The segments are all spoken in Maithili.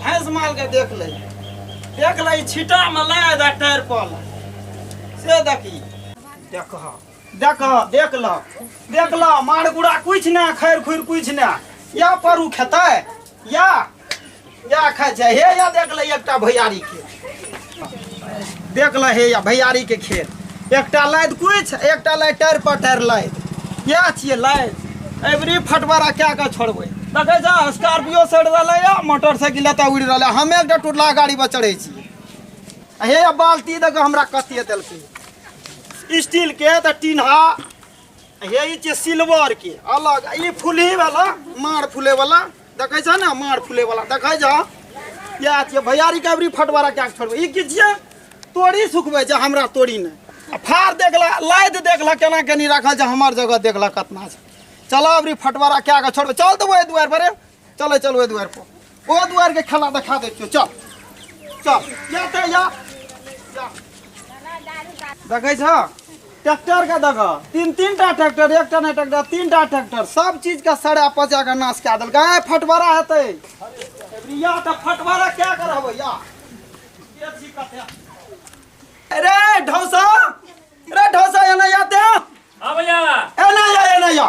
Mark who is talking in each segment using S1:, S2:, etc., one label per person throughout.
S1: भैंस माल के देख ले देख ले छिटा में लगा दे टायर पर से देखी देख देख देख ल देख ल मार गुड़ा कुछ ना खैर खुर कुछ ना या परू खेतै या या खाइ छै हे या देख ल एकटा भैयारी के देख ल हे या भैयारी के खेत एकटा लाद कुछ एकटा लाद टायर पर टायर लाद या छियै लाद एवरी फटबरा क्या के छोड़बै देखै छ स्कॉर्पियो सड़ रहलै या मोटरसाइकिल एतऽ उड़ि रहलै हमे एकटा टुटला गाड़ी पर चढ़ै छियै हे या बाल्टी देखऽ हमरा कतिए देलकै स्टील के तऽ टीन्हा हे ई छै सिल्वर के अलग ई फुलही वाला मार फुले वाला देखै छ ने मार फुले वाला देखै छ या छै भैया रिकवरी फटवारा कए के छोड़बै ई की छियै तोड़ी सुखबै छै हमरा तोड़ी ने आ फार देखला लाद देखला केना केनी राखल छै हमर जगह देखला कतना छै चल अबरी फटवारा कए के छोड़बै चल देबै एहि दुआरि पर रे। चल चल ओहि दुआर पर ओ दुआर के खेला देखा दे चल चल या ते या देखे छ ट्रैक्टर का देख तीन तीन टा ट्रैक्टर एक टा नहीं ट्रैक्टर तीन टा ट्रैक्टर सब चीज का सड़ा पचा के नाश कए देलकै ए फटबरा हेतै या तऽ फटबरा क्या करब या के छी कते अरे ढौसा अरे ढौसा एना या ते हाँ भैया एना या एना या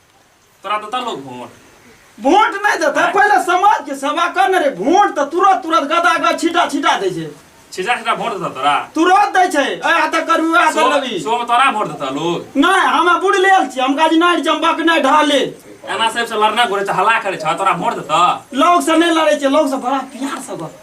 S1: तोरा देता लोग वोट वोट नहीं देता पहले समाज के सेवा करने रे वोट तो तुरंत तुरंत गदा गद छिटा छिटा दे छे छिटा छिटा वोट देता तोरा तुरंत दे छे ए हाथ करू ए हाथ लगी सो में तोरा वोट देता लोग नहीं हम बुड़ लेल छी हम काज नहीं चंबक नहीं ढाले एना सब से लड़ना घुरे छ हल्ला करे छ तोरा वोट देता लोग से नहीं लड़े छे लोग से बड़ा प्यार से गप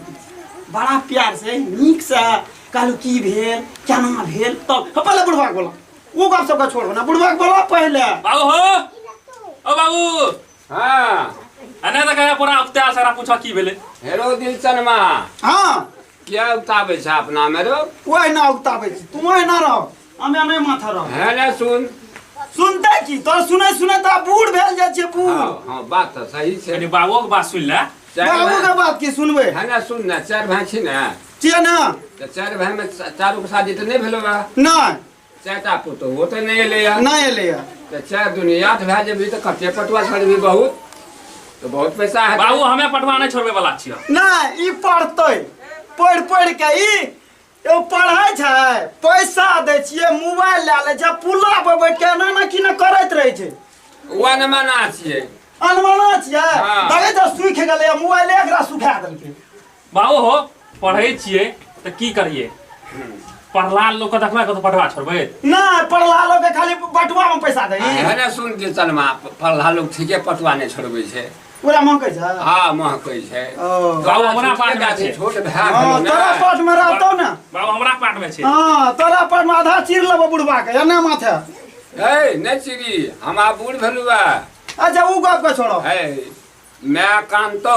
S1: बड़ा प्यार से नीक से कहलू की भेल केना भेल तब तो, पहले बुढ़वा बोला वो गप सबका छोड़ो ना बुढ़वा के बोला पहले बाबू हो ओ बाबू हाँ अने त कहे पूरा उक्ता सारा पूछा की भेले हेरो दिलचन मा हाँ क्या उताबे छा अपना में रो वही ना उगताबे छी तू वही ना रहो हमें हमें माथा रहो है ना सुन सुनते की तो सुने सुने तो आप बूढ़ भेल जाए छे बूढ़ हाँ हाँ बात तो सही कनी छे बाबू के बात सुन ले चार बाबू भैं- के बात की सुनबे है ना सुन ना चार भाई छी ना किया ना तऽ चारि भाइमे चा- चारूके शादी तऽ नहि भेलौ बा नहि चारिटा पुतोहो तऽ नहि एलैए नहि एलैए तऽ चारि दुनी आठ भए जेबही तऽ कते पटुआ छोड़बही बहुत तऽ बहुत पैसा हेतै बाबू हमे पटवा नहि छोड़बे वाला छियै नहि ई पढ़तै पढ़ि पढ़ि के ई एगो पढ़ै छै पैसा दै छियै मोबाइल लए लै छै पुला पर बैठ के एना ना कि ना करैत रहै छै ओह ने मना छियै अनमना छियै हाँ। देखै तऽ सुखि गेलै मोबाइले एकरा सुखा देलकै बाबू हो पढ़ै छियै तऽ की करियै पढ़ला लोक के देखबै कतौ पढ़वा छोड़बै ना पढ़ला लोग के खाली बटुआ में पैसा दे है ना सुन कीर्तनमा पढ़ला लोग ठीके पटुआ नहि छोड़बै छै पूरा मन कैसे हाँ महकै छै ओ। बाबू, हमरा छोटके पासमे गाछ छै। छै, छोट भए हाँ, गेलौ तोरा ने पास में रहतो ना बाबू हमरा पाठ मे छै हाँ तोरा पास में आधा चीर लेबो बुढ़वा के एने माथे ए नहि चिरी हम आब बूढ़ भेलू बा अच्छा ऊ गप के छोड़ो ए माय कानतौ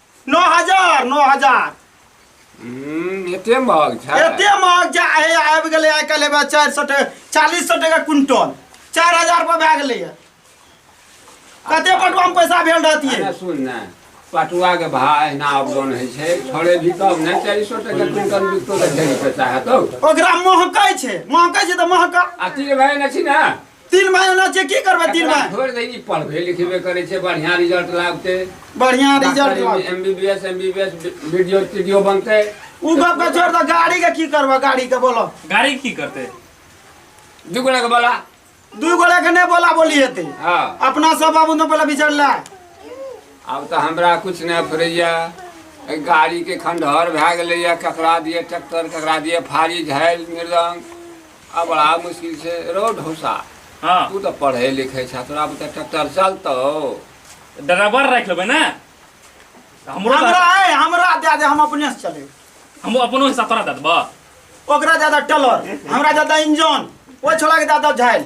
S1: नौ हजार नौ हजार हम्म, एते महग छै एते महग जा हे आबि गेलै आइ काल्हि एहिमे चारि सए टका चालीस सए टका क्विंटल चारि हजार पर भए गेलैए कते पटुआमे पैसा भेल रहतियै अरे सुन ने पटुआ के भा एहिना अपडाउन होइ छै थोड़े भी कम नहि चारि सए टका क्विंटल बिकतो तऽ ढेरी पैसा हेतौ ओकरा महकै छै महकै छै तऽ महका अति भए ने छी ने तीन भाई ना छै की करबै तीन भाई छोड़ दे नी पढ़बे लिखबे करे छै बढ़िया रिजल्ट लागते बढ़िया रिजल्ट लागते एमबीबीएस एमबीबीएस वीडियो वीडियो बनते उ गप का छोड़ द गाड़ी के की करबा गाड़ी के बोलो गाड़ी की करते दू गोला के बोला दू गोला के नहीं बोला बोली हेते हां अपना सब बाबू ने पहले विचार ला अब तो हमरा कुछ नहीं फरैया गाड़ी के खंडहर भए गेलैया ककरा दिए ट्रैक्टर ककरा दिए फाड़ी झाइल मृदंग आ बड़ा मुश्किल से रो ढौसा हाँ तू तो पढ़े लिखे छा तोरा बता ट्रैक्टर चलतो ड्राइवर रख लेबै ने तऽ हमरो हमरा तऽ- है हमरा दे दे हम अपने से चले हम अपनो हिस्सा तोरा दे देबऽ ओकरा ज्यादा टेलर हमरा ज्यादा इंजन ओ छोड़ा के ज्यादा झाइल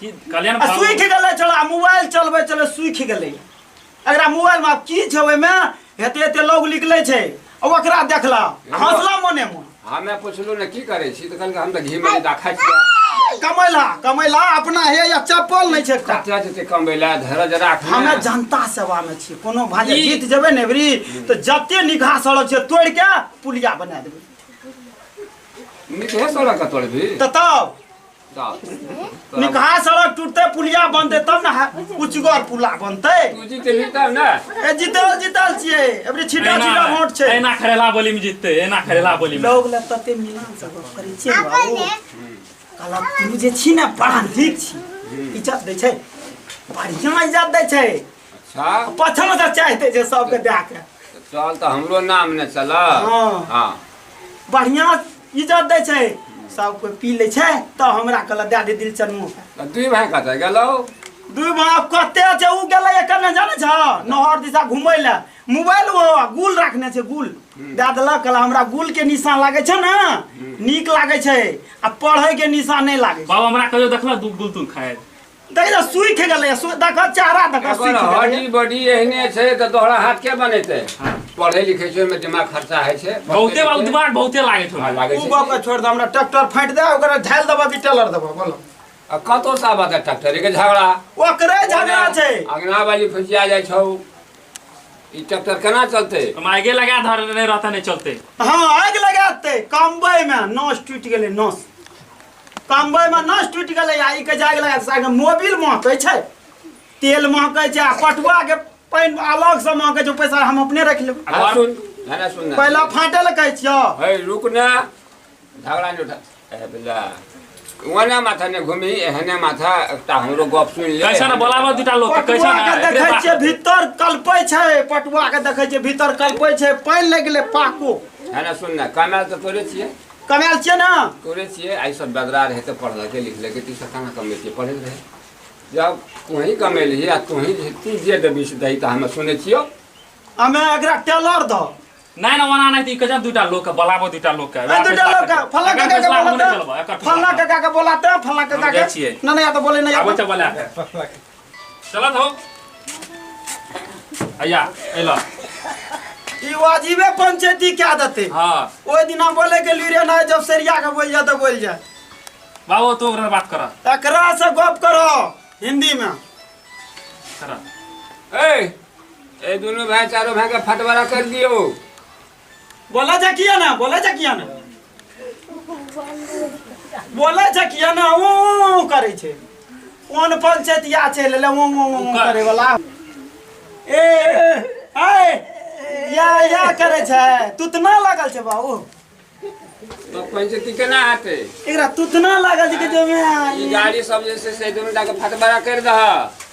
S1: की कल्याण आ बाबू सूखि गेलै चलो आ मोबाइल चलबै चलबै सूखि गेलै एकरा मोबाइलमे आब की छै ओहिमे हेते हेते लोग निकलै छै आ ओकरा देखला आ हँसला मोने मोन हमे पुछलू ने की करै छी तऽ कहलकै हम तऽ घी मरीदा खाइ छियै कमैला कमैला अपना हे या चप्पल नहि छै एकटा कतऽ जेतै कमबै लए धरज राख हमे जनता सेवा मे छी कोनो भांजे ई- जीत जेबै ने एबरी तऽ जते निगाह सड़क छै तोड़ि के पुलिया बना देबै नीचे सड़क कतोड़ भी तऽ तब निकहा सड़क टूटते पुलिया बनते तब ना उचगर पुला बनते तू जीते जीता ना ए जीतल जीतल छिए एबरी छिटा छिटा वोट छै एना खरेला बोली में जीतते एना खरेला बोली में लोग ले तते मिलान सब करै छै बाबू कला तू जे छी ना पढ़ान ठीक छी इज्जत दै छै बढ़िया इज्जत दै छै अच्छा पछम से चाहते जे सबके दए के तऽ चल तऽ हमरो नाम ने चलऽ हँ। हँ बढ़िया इज्जत दै छै सब कोई पी लै छै तऽ हमरा कहलक दए दे दिल चनमो के तऽ दुइ भाय कतऽ गेलौ दुई भाव कते छै उ गेलै एकर ने जानै छ नहर दिशा घुमै लए मोबाइल ओ गुल राखने छै गुल दए देलक कहला हमरा गुल के निशान लागै छै ने नीक लागै छै आ पढ़ै के निशान नहि लागै छै बाबा हमरा कहियो देखला दू गुलतुल खाए देखै छौ सुखि गेलै सु- देखऽ चेहरा देखऽ एकर सुखि गेलै हड्डी बॉडी एहने छै तऽ तोहरा हाथ के बनेतै पढ़े लिखे छै ओहिमे दिमाग खर्चा होइ छै बहुते बा उद्वार बहुते लागे हँ, छौ लागै उ छै गप के छोड़ दे हमरा ट्रैक्टर फाटि दे ओकरा ढाल देबऽ कि टेलर देबऽ बोल आ कतौ से आबत है ट्रैक्टर के झगड़ा ओकरे झगड़ा छै अंगना वाली फुसिया जाइ छौ ई ट्रैक्टर केना चलतै हम आगे लगा धर नहीं रहता नहीं चलते हाँ आग लगाते कम्बई में नस टूट गेलै नस कमबै में नस टूटि गेलै आ ई के जाग लगा साग मोबिल महकै छै तेल महकै छै आ पटुआ के पानि अलग से महकै छै पैसा हम अपने रख लेब आ सुन गाना सुन ना पहला फाटे ले कहै छियो है रुक ना झगड़ा नहीं उठा ए बेला वना माथा ने घूमी एहने माथा एकटा हमरो गप सुन ले कैसा ना बोलाबो दूटा लोग के, कैसा पटुआ ना के एकरे देखै बा- छियै भीतर कल्पै छै पटुआ के देखै छियै भीतर कल्पै छै पानि लागि गेलै पाको है ना सुन ना कमाल तो तोरे छिए कमायल छियै ने तोरे छियै आइ सब बदरा रहै तऽ पढ़लकै लिखलकै तू सब कहाँ कमे छियै पढ़ै रहै जब तोही कमेलही आ तोही तू जे देबी से दही तऽ हमे सुनै छियौ हमे एकरा टेलर दो नहीं ना वना नहीं कजन दूटा लोग बलाबो दूटा लोग के ए दूटा लोग का फल्ला काका के बोला फल्ला काका के बोला त फल्ला काका के नहीं नहीं या तो बोले नहीं आबो तो बोला चलत हो अया एला ई वाजिबे पंचायती क्या देते हाँ ओहि दिना बोले के लिए ना जब सरिया के बोल जा तो बोल जा बाबू तू ओकरा बात कर एकरा से गप करो हिंदी में कर ए ए दोनों भाई चारों भाई का फटवारा कर दियो बोला जा किया ना बोला जा किया ना बोला जा किया ना ऊ ऊ करे छे कोन पंचतिया छे ले ऊ ऊ ऊ करे वाला ए आए या या करे छे तुतना लागल छे बाबू तो पंचती के ना आते एकरा तुतना लागल छे के जो में ई गाड़ी सब जैसे से दुनु डाके फटबरा कर दह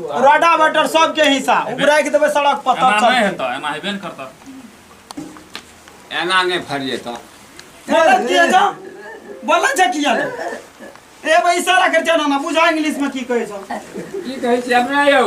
S1: रोडा बटर सबके हिस्सा उबराइ के देबै सड़क पर तब चलतै हेतौ एना हेबे ने करतौ एना नहि फरि जेतौ बोलै किया जा बोलै छै किया ने ए भाई इशारा कर जाना ना बुझा इंग्लिश में की कहै छौ की कहै छी अपने यौ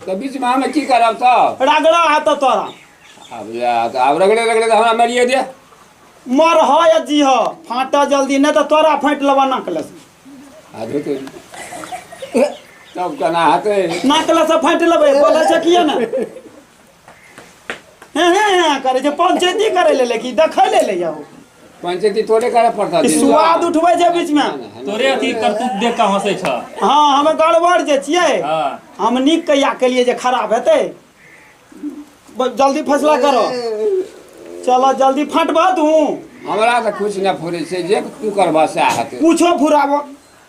S1: तऽ बीच में हमें की करब तब रगड़ा है तो तोरा अब या तऽ आब रगड़े रगड़े तऽ हमरा मारिए दे मर ह या जी ह फाटा जल्दी नहीं तो तोरा फाट लबा नकले से आधे तो तब केना हेतै नकले से फाट लबे बोले छे किए ने हे हे हे करे छे पंचायती करे ले ले की देखे ले ले जाओ पंचायती तोरे करे पड़ता ई स्वाद उठबै छै बीचमे तोरे अथी करतूत देख कऽ हंसै छ हँ हमे गड़बड़ जे छियै हँ हम नीक कहिया केलियै जे खराब हेतै ब- जल्दी फैसला करो चलो जल्दी फटबह तू हमरा तऽ कुछ नहि फुरे छै जे तू करबह सएह हेतै पूछो फुराबो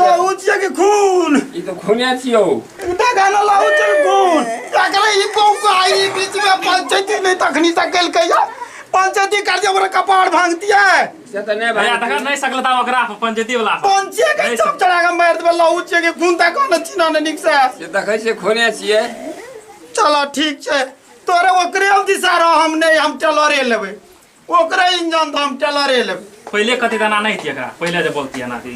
S1: लहू छियै कि खून ई तो खूने छियो देखा ना लहू छियै कि खून तकरे ई बौका ई बीच में पंचायती नहीं तखनी तक कल कहिया पंचायती कर दिया ओकरा कपार भांग दिया से तो नहीं भैया तखन भाई नहीं सकलता ओकरा पंचायती वाला से। पंचे के नहीं सब चढ़ा के मार देबे लहू छियै कि खून तक न चिन्ह ने निक से से देखै छियै खूने छियै चलो ठीक छै तोरे ओकरे अब दिशा रह हम नहीं हम चलो रे लेबै ओकरे इंजन तो हम टेलरे लेब पहिले कति दाना नहि दिए एकरा पहिले जे बोलतिए ना दी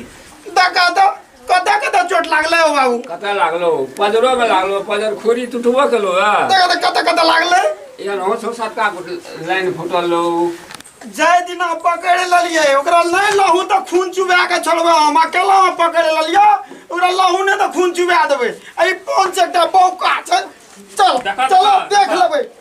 S1: देखा तो कतऽ कतऽ चोट लागलै हो बाबू कतऽ लागलो पजरो में लागलो पजर खोरी टूटबो केलो है देखा तो कतऽ कतऽ लागलै एहन हो छो सत्ता लाइन फूटल लो जाय दिना पकड़ लेलियै ओकरा नहि लहू तऽ खून चुबा के छोड़बै हम अकेला हम पकड़ लेलियै ओकरा लहू नहि तऽ खून चुबा देबै एहि पाँच एकटा बौका छै चल देखा तो चलो बा, देख बा। लेबै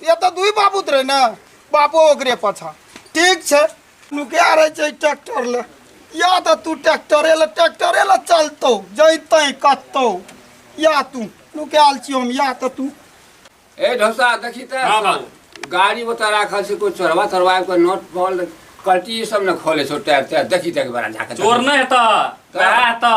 S1: ये तो दुई बाबूत रहे ना बापो ओकरे पछा ठीक छे नुकिया रहे छे ट्रैक्टर ले या तो तू ट्रैक्टरे ले ट्रैक्टरे ले चलतो जैते कत्तो या तू नुकियाल छी हम या तो तू ए ढोसा देखी त हाँ, बाबू। गाड़ी बता राखल छै कोई चोरवा चोरवा के नोट फॉल कल्टी सब ने खोले छो टायर टायर देखी तक बड़ा झाके चोर नहि हेतऽ वएह हेतऽ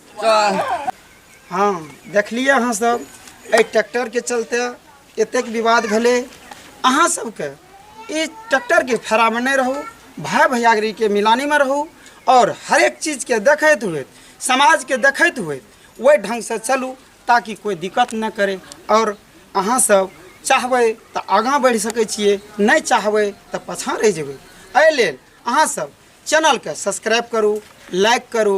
S1: हँ देखलियै अहाँ सब एहि ट्रैक्टरके चलते एतेक विवाद भेलै अहाँ सबके ई ट्रैक्टरके फेरामे नहि रहू भाय भैयागरीके मिलानीमे रहू आओर हरेक चीजके देखैत हुए समाजके देखैत हुए ओहि ढङ्गसँ चलू ताकि कोइ दिक्कत नहि करे आओर अहाँ सब चाहबै तऽ आगाँ बढ़ि सकै छियै नहि चाहबै तऽ पाछाँ रहि जेबै एहि लेल अहाँ सब चैनलके सब्सक्राइब करू लाइक करू